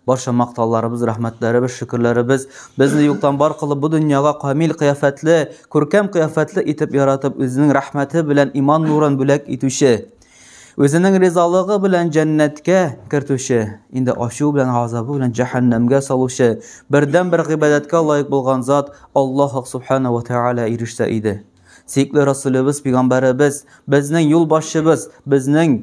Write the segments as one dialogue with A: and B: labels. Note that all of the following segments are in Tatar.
A: Барча мактауларыбыз, рәхмәтләребез, шөкерләребез безне юктан бар кылып бу дөньяга камил кыяфәтле, күркәм кыяфәтле итеп яратып, үзенең рәхмәте белән иман нурын бүләк итүче, үзенең ризалыгы белән җәннәткә кертүче, инде ачу белән газабы белән җәһәннәмгә салучы, бердән бер гыйбадәткә лаек булган зат Аллаһ субхана ва тааля ирешсә иде. Сөекле Расулебез, пигамбәребез, безнең юлбашчыбыз, безнең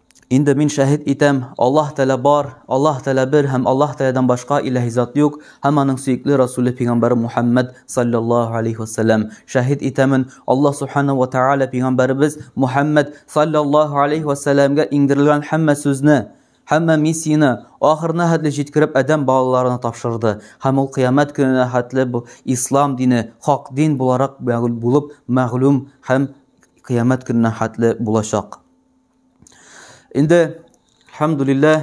A: Инде мин шәһит итәм, Аллаһ Тәлә бар, Аллаһ Тәлә бер һәм Аллаһ Тәләдән башка иләһи зат юк һәм аның сөекле Расуле пигамбәре Мухәммәд салләллаһу алейһи вә сәлләм. Шәһит итәмен, Аллаһ субхана вә тәгалә пигамбәребез Мухәммәд салләллаһу алейһи вә сәлләмгә иңдерелгән һәммә сүзне, һәммә миссияне ахырына хәтле җиткереп адәм балаларына тапшырды һәм ул кыямәт көненә хәтле бу ислам дине хак дин буларак мәгълүм булып мәгълүм һәм кыямәт көненә хәтле булачак. Инде, әлхәмдүлиллә,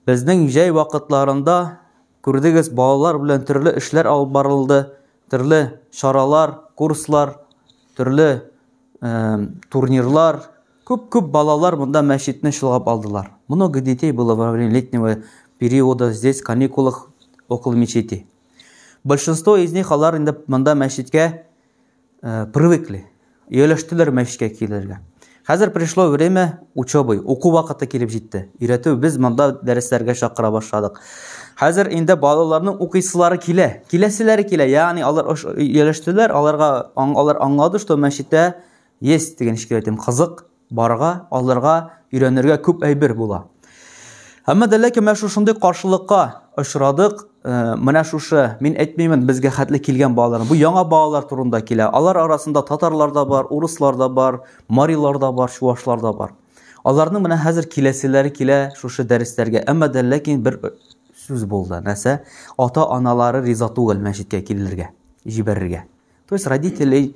A: безнең җәй вакытларында күрдегез, балалар белән төрле эшләр алып барылды, төрле чаралар, курслар, төрле э, турнирлар. Күп-күп балалар монда мәчетне чолгап алдылар. Много детей было во время летнего периода здесь, в каникулах, около мечети. Большинство из них, алар инде монда мәчеткә Э, привыкли. Ияләштеләр мәчкә килергә. Хәзер пришло время учебы, уку вакыты килеп җитте. Өйрәтү без монда дәресләргә чакыра башладык. Хәзер инде балаларның укыйсылары килә. Киләселәре килә. Ягъни алар ияләштеләр, аларга алар аңлады, что мәчеттә есть дигән шикаятем кызык, Барырга, алырга, өйрәнергә күп әйбер була. Әмма дә ләкин менә шушындый каршылыкка очрадык. Э, менә шушы, мин әйтмимен, безгә хәтле килгән балалар. Бу яңа балалар турында килә. Алар арасында татарлар да бар, урыслар да бар, марилар да бар, чувашлар да бар. Аларның менә хәзер киләселәре килә шушы дәресләргә. Әмма дә ләкин бер сүз булды. Нәрсә? Ата-аналары риза түгел мәчеткә килергә, җибәрергә. То есть родителей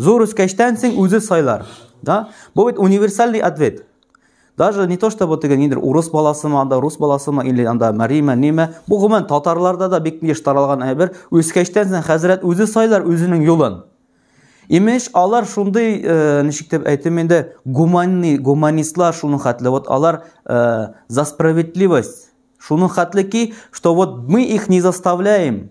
A: Зур үскәчтән син үзе сайлар. Да? Бу бит универсальный ответ. Даже не то, что вот теге нидер урыс баласымы, анда рус баласымы, или анда марима, неме. Бу гомумән татарларда да бик еш таралган әйбер. Үскәчтән син хәзрәт үзе сайлар үзенең юлын. Имеш, алар шундый, э, ничек дип әйтим инде, гуманный, гуманистлар шуның хәтле. Вот алар э, за справедливость. Шуның хәтле ки, что вот мы их не заставляем.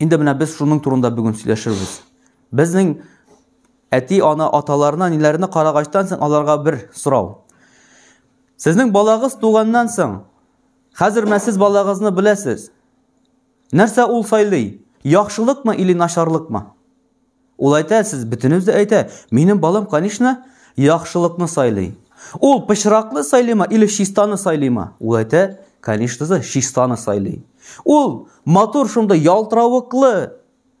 A: Инде менә без шуның турында бүген сөйләшербез. Безнең әти, ана, аталарына, ниләренә карагачтан соң аларга бер сорау. Сезнең балагыз туганнан соң, хәзер менә сез балагызны беләсез. Нәрсә ул сайлый? Яхшылыкмы или начарлыкмы? Ул әйтә, сез бөтенез дә әйтә, минем балам, конечно, яхшылыкны сайлый. Ул пычраклы сайлыйма или чистаны сайлыйма? Ул әйтә, конечно же, чистаны сайлый. Ул матур шунда ялтыравыклы,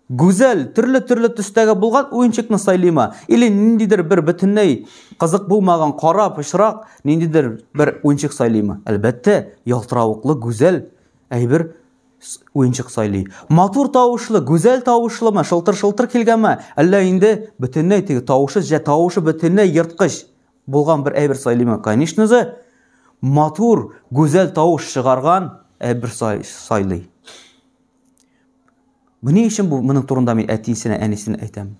A: гүзәл, төрле-төрле төстәге булган уенчыкны сайлыйма? Или ниндидер бер бөтенләй кызык булмаган кара пычрак, ниндидер бер уенчык сайлыйма? Әлбәттә, ялтыравыклы, гүзәл әйбер уенчык сайлый. Матур тавышлы, гүзәл тавышлымы, шылтыр-шылтыр килгәнме, әллә инде бөтенләй теге тавышы, җә тавышы бөтенләй ерткыч булган бер әйбер сайлыймы? Конечно же, матур, гүзәл тавыш чыгарган әйбер сайлый. Менә өчен бу моның турында мин әтисенә, әнисенә әйтәм.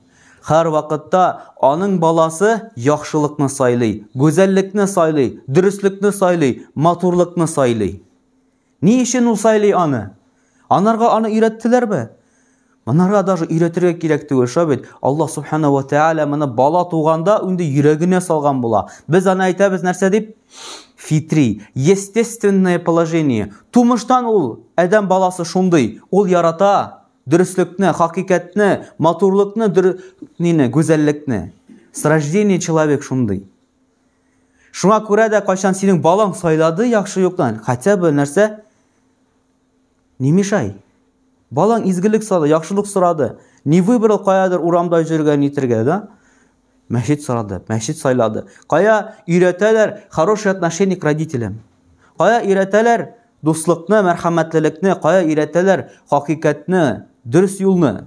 A: Хәр вакытта аның баласы яхшылыкны сайлый, гүзәллекне сайлый, дөреслекне сайлый, матурлыкны сайлый. Ни өчен ул сайлый аны? Анарга аны өйрәттеләрме? Монарга даже өйрәтергә кирәк түгел, шулай бит. Аллаһ субхана ва тааля моны бала туганда инде йөрәгенә салган була. Без аны әйтәбез нәрсә дип? Фитри, естественное положение. Тумыштан ул адәм баласы шундый, ул ярата дөреслекне, хакыйкатьне, матурлыкны, нины, гүзәллекне. С рождения человек шундый. Шуңа күрә дә кайчан синең балаң сайлады яхшы юктан, хотя бы нәрсә не мешай. Балаң изгелек сорады, яхшылык сорады. Не выбрал каядыр урамда йөргән нитергә, да? Мәчет сорады, мәчет сайлады. Кая өйрәтәләр хороший отношение к родителям? Кая өйрәтәләр дуслыкны, мәрхәмәтлелекне, кая өйрәтәләр хакыйкатьне, дөрес юлны?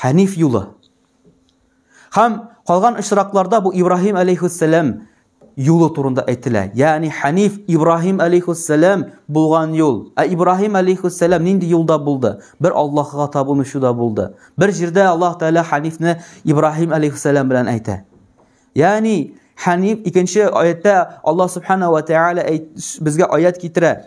A: Хәниф юлы. Хәм калган очракларда бу Ибраһим алейхиссәлам юлы турында әйтелә. Ягъни Хәниф Ибраһим алейхиссәлам булган юл. Ә Ибраһим алейхиссәлам нинди юлда булды? Бер Аллаһка табынучыда булды. Бер җирдә Аллаһ Тәгалә Хәнифне Ибраһим алейхиссәлам белән әйтә. Ягъни Хәниф икенче аятта Аллаһ субхана ва тәгалә безгә аят китерә.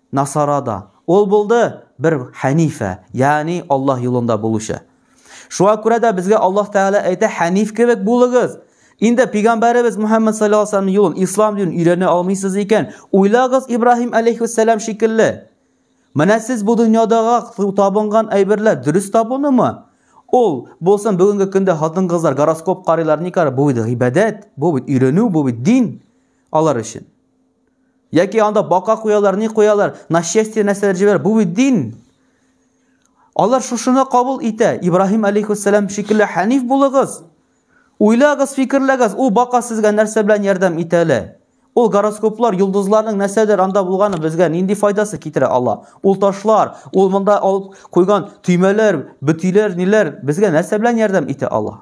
A: Насара да. Ул булды бер хәнифә, ягъни Аллаһ юлында булучы. Шуңа күрә дә безгә Аллаһ Тәгалә әйтә, хәниф кебек булыгыз. Инде пигамбәребез Мухаммад саллаллаһу алейһи ва салләмнең юлын, ислам динен өйрәнә алмыйсыз икән, уйлагыз Ибраһим алейһиссәлам шикелле. Менә сез бу дөньядагы табынган әйберләр дөрес табынымы? Ул булсын бүгенге көндә хатын-кызлар гороскоп карыйлар, ни карый, бу бит гыйбадәт, бу бит өйрәнү, бу бит дин алар өчен. Яки анда бака куялар, ни куялар, нашестие нәрсәләр җибәр, бу бит дин. Алар шушыны кабул итә. Ибраһим алейхиссалам шикелле хәниф булыгыз. Уйлагыз, фикерләгез, ул бака сезгә нәрсә белән ярдәм итә әле? Ул гороскоплар, йолдызларның нәрсәдер анда булганы безгә нинди файдасы китерә ала? Ул ташлар, ул монда алып куйган төймәләр, бөтиләр, ниләр безгә нәрсә белән ярдәм итә ала?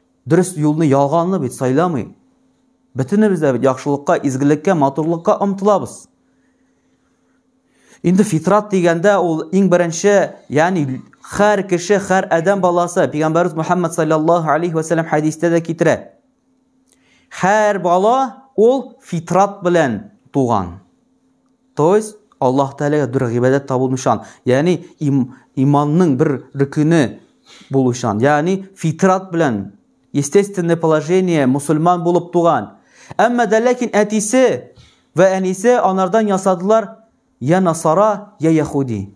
A: Дөрес юлны ялганны бит сайламый. Бөтенебез дә бит яхшылыкка, изгелеккә, матурлыкка омтылабыз. Инде фитрат дигәндә ул иң беренче, ягъни һәр кеше, һәр адәм баласы, пәйгамбәрбез Мухаммад саллаллаһу алейхи ва саллям хәдистә дә китерә. Һәр бала ул фитрат белән туган. То есть Аллаһ Тәгаләгә бер гыйбадәт табылмышан, ягъни им, иманның бер рөкүне булучан, ягъни фитрат белән естественное положение мусульман булып туган. Әмма дә ләкин әтисе ва әнисе анардан ясадылар я насара, я яхуди.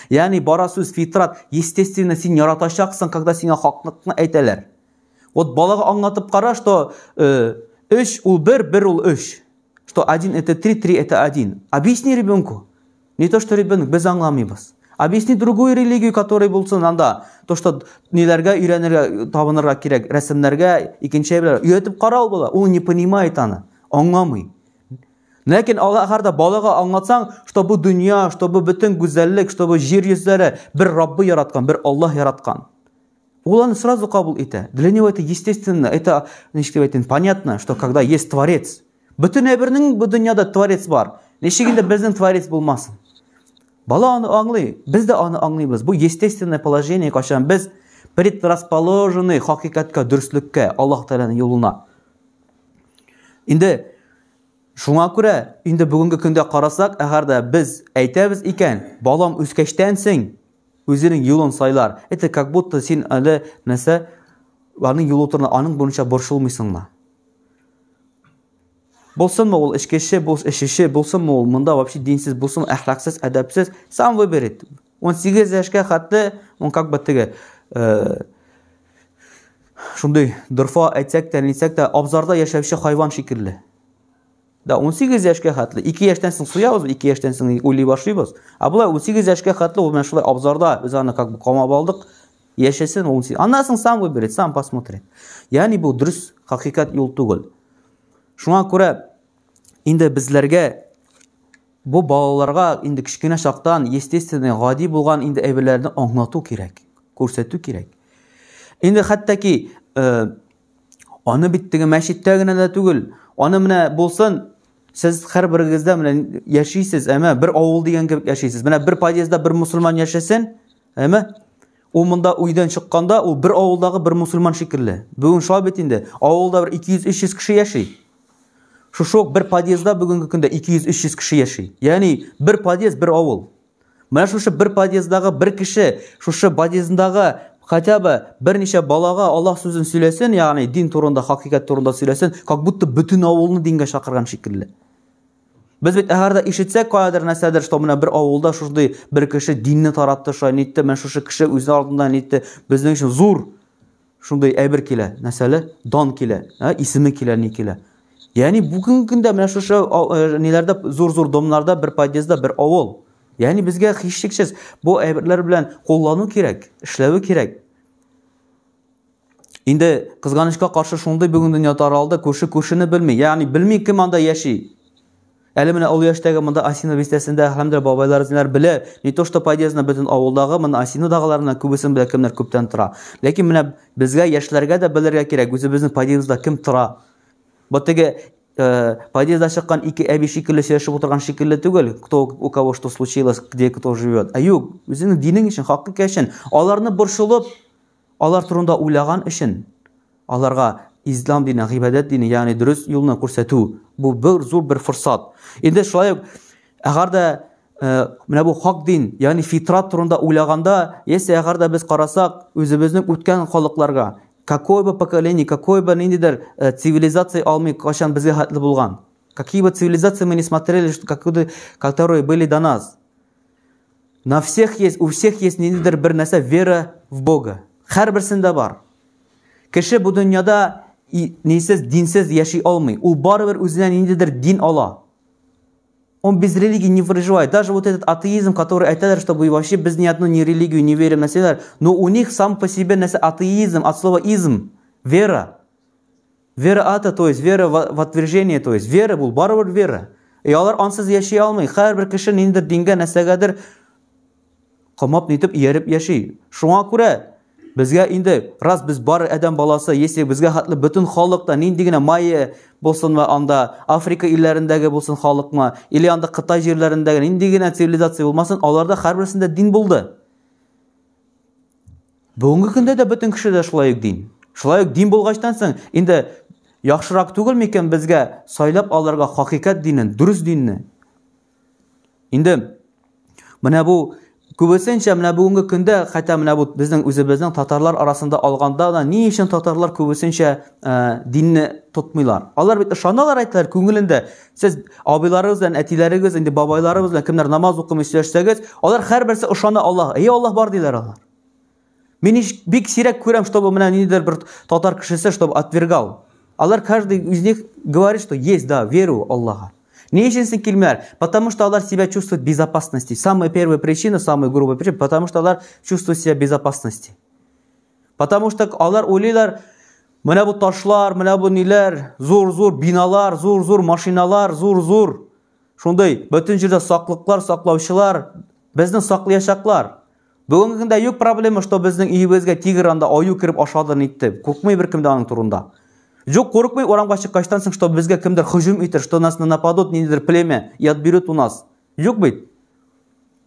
A: Ягъни бара сүз фитрат, естественно, син яратачаксың, когда сиңа хаклыкны әйтәләр. Вот балага аңлатып кара, что 3 э, ул 1, 1 ул 3. Что 1 это 3, 3 это 1. Объясни ребенку. Не то, что ребенок без аңламыйбыз. Объясни другую религию, которая булсын анда. То, что ниләргә өйрәнергә, табынырга кирәк, рәсемнәргә, икенче әйберләр. Өйрәтеп карау була. Ул не понимает аны, аңламый. Ләкин алар да балага аңлатсаң, что бу дөнья, что бу бөтен гүзәллек, что бу җир йөзләре бер Раббы яраткан, бер Аллаһ яраткан. Ул аны сразу кабул итә. Для него это естественно, это, ничек дип әйтим, понятно, что когда есть творец. Бөтен әйбернең бу дөньяда творец бар. Ничек инде безнең творец булмасын? Бала аны аңлый, без дә аны аңлыйбыз. Бу естественное положение, качан без предрасположены хакыйкатькә, дөреслеккә, Аллаһ Тәгаләнең юлына. Инде Шуңа күрә, инде бүгенге көндә карасак, әгәр дә без әйтәбез икән, балам үскәчтән син үзенең юлын сайлар, это как будто син әле нәрсә аның юлы турында, аның буенча борчылмыйсыңмы? Булсынмы ул эчкече, бул эчүче, булсынмы ул монда вообще динсез, булсын әхлаксыз, әдәпсез, сам выберет. 18 яшькә хәтле, он как бы теге, э, Шундый дорфа әйтсәк тә, нисәк тә, абзарда яшәүче хайван шикелле. Да 18 яшькә хәтле, 2 яшьтән соң суябыз, 2 яшьтән соң уйлый башлыйбыз. Ә болай 18 яшькә хәтле ул менә шулай абзарда без аны как бы камап алдык. Яшәсен 18. Аннан соң сам выберет, сам посмотрит. Ягъни бу дөрес хакыйкать юл түгел. Шуңа күрә инде безләргә бу балаларга инде кечкенә чактан естественный гади булган инде әйберләрне аңлату кирәк күрсәтү кирәк инде хәтта ки э, аны бит теге мәчеттә генә дә түгел аны менә булсын сез һәрберегездә менә яшисез әмә бер авыл дигән кебек яшисез менә бер подъездда бер мусульман яшәсен әмә ул монда өйдән чыкканда ул бер авылдагы бер мусульман шикелле бүгін шулай бит инде авылда бер 200-300 кеше яши Шушы ук бер подъездда бүгенге көндә 200-300 кеше яши. Ягъни бер подъезд, бер авыл. Менә шушы бер подъездагы бер кеше, шушы подъездагы хотя бы берничә балага Аллаһ сүзен сөйләсен, ягъни дин турында, хакыйкать турында сөйләсен, как будто бөтен авылны дингә чакырган шикелле. Без бит әгәрдә ишетсәк каядыр нәрсәдер, что менә бер авылда шушдый бер кеше динне таратты, шулай нитте, менә шушы кеше үзе алдында нитте, безнең өчен зур шундый әйбер килә, мәсәле, дан килә, ә, исеме килә, ни килә. Ягъни бүгенге көндә менә шушы э, ниләрдә зур-зур домнарда бер подъездда бер авыл. Ягъни безгә һичшиксез бу әйберләр белән куллану кирәк, эшләве кирәк. Инде кызганычка каршы шундый бүген дөнья таралды, күрше күршене белми. Ягъни белми кем анда яши. Әле менә олы яшьтәге монда Осино бистәсендә хәмдер бабайларызнлар белә, не то что подъездны бөтен авылдагы монда Осинодагыларны күбесен белә кемнәр күптән тора. Ләкин менә безгә яшьләргә дә белергә кирәк үзебезнең подъездда кем тора. Бу теге подъездда чыккан ике әби шикелле сөйләшеп утырган шикелле түгел, кто у кого что случилось, где кто живет. Ә юк, үзеңнең динең өчен, хакыйкә өчен аларны борчылып Алар турында уйлаган өчен, аларга ислам дине, гыйбадәт дине, ягъни дөрес юлны күрсәтү, бу бер зур бер форсат. Инде шулай ук, әгәр дә э, менә бу хак дин, ягъни фитрат турында уйлаганда, яисә әгәр дә без карасак, үзебезнең үткән халыкларга, какое бы поколение, какое бы ниндидер э, цивилизация алмый, кайчан безгә хәтле булган. Какие бы цивилизации мы не смотрели, что, которые были до нас. На всех есть, у всех есть ниндидер бер нәрсә вера в Бога. Һәрберсендә бар. Кеше бу дөньяда нисез, динсез яши алмый. Ул барыбер үзенә ниндидер дин ала. Он без религии не выживает. Даже вот этот атеизм, который айтадыр, что вы вообще без ни одну ни религию не верим на себя, но у них сам по себе несе атеизм, от слова изм, вера. Вера ата, то есть вера в отвержение, то есть вера бул барыбер вера. И алар ансыз яши алмый. Һәрбер кеше ниндер дингә, нәрсәгәдер камап нитеп ияреп яши. Шуңа күрә безгә инде раз без бар адәм баласы, если безгә хатлы бөтен халыкта нинди генә майя булсын ва анда Африка илләрендәге булсын халыкма, или анда Кытай җирләрендәге нинди генә цивилизация булмасын, аларда һәрберсендә дин булды. Бүгенге көндә дә бөтен кеше дә шулай ук дин. Шулай ук дин булгачтан соң инде яхшырак түгел микән безгә сайлап алырга хакыйкать динен, дөрес динне? Инде менә бу күбесенчә менә бүгенге көндә хәтта менә бу безнең үзебезнең татарлар арасында алганда да ни өчен татарлар күбесенчә ә, динне тотмыйлар? Алар бит ышаналар әйтәләр күңелендә Сез абыйларыгыз белән, әтиләрегез, инде бабайларыгыз белән кемнәр намаз укымый сөйләшсәгез, алар һәрберсе ышана Аллаһ. Әйе, Аллаһ бар диләр алар. Мин ич бик сирәк күрәм, чтобы менә ниндидер бер татар кешесе, чтобы отвергал. Алар каждый из них говорит, что есть, да, верю Аллаһа. Ни өчен син килмәр? Потому что алар себя чувствуют безопасности. Самая первая причина, самая грубая причина, потому что алар чувствуют себя безопасности. Потому что алар уйлыйлар, менә бу ташлар, менә бу ниләр, зур-зур биналар, зур-зур машиналар, зур-зур шундый бөтен җирдә саклыклар, саклаучылар безне саклаячаклар. Бүгенге көндә юк проблема, что безнең өебезгә тигр анда аю кереп ашады нитте. Курыкмый беркем дә аның турында. Юк, курыкмый урамга чыккачтан соң, что безгә кемдер һөҗүм итер, что нас нападут, ниндидер племя и отберет у нас. Юк бит.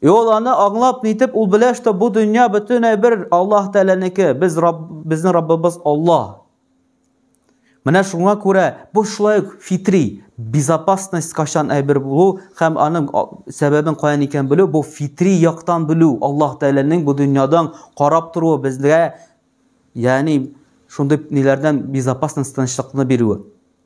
A: И ул аны аңлап нитеп ул белә, что бу дөнья бөтенләй бер Аллаһ Тәгаләнеке, без Рабб, безнең Раббыбыз Аллаһ. Менә шуңа күрә бу шулай ук фитри безопасность качан әйбер булу һәм аның сәбәбен каян икән белү, бу фитри яктан белү, Аллаһ Тәгаләнең бу дөньядан карап торуы безгә, ягъни шундый ниләрдән безопасность тынычлыкны бирүе.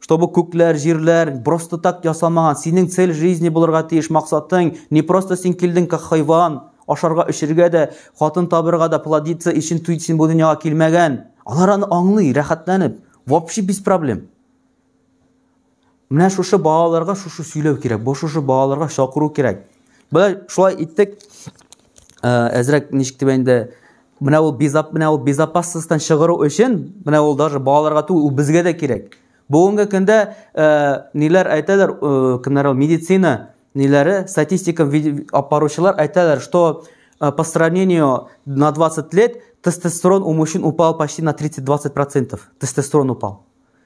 A: чтобы күкләр, җирләр просто так ясамаган. Синең цель жизни булырга тиеш максатың. Не просто син килдең как хайван, ашарга, эчергә дә, хатын табырга да, плодиться өчен туй син бу дөньяга килмәгән. Алар аны аңлый, рәхәтләнеп. Вообще без проблем. Менә шушы балаларга шушы сөйләү кирәк, бу шушы балаларга чакыру кирәк. Болай шулай иттек. Әзрәк ничек дип инде менә ул безап менә ул безопасностьтан чыгару өчен менә ул даже балаларга түгел, ул безгә дә кирәк. Бүгенге көндә ниләр әйтәләр, кемнәр ул медицина ниләре, статистика апаручылар әйтәләр, что по сравнению на 20 лет тестостерон у мужчин упал почти на 30-20%. Тестостерон упал.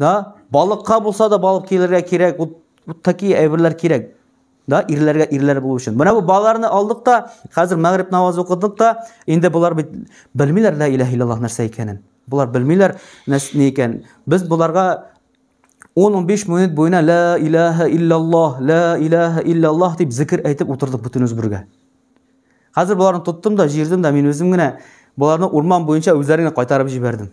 A: Да, балыкка булса да балык килергә кирәк, вот, вот такие әйберләр кирәк. Да, ирләргә ирләр булу өчен. Менә бу балаларны алдык та, хәзер мәгърип намазы укыдык та, инде булар бит белмиләр лә илаһ иллаллаһ нәрсә икәнен. Булар белмиләр нәрсә ни икән. Без буларга 10-15 минут буена ла илаһа иллаллаһ, ла илаһа иллаллаһ дип зикр әйтеп утырдык бөтенебез бергә. Хәзер буларны тоттым да, җирдем дә, мин үзем генә буларны урман буенча үзләренә кайтарып җибәрдем.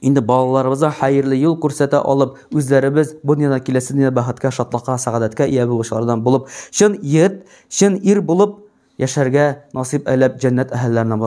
A: Инде балаларыбызга хәерле юл күрсәтә алып, үзләребез бу дөньяда киләсе дөньяда бәхеткә, шатлыкка, сәгадәткә ия булучылардан булып, чын егет, чын ир булып яшәргә насыйп әйләп җәннәт әһелләренә бар.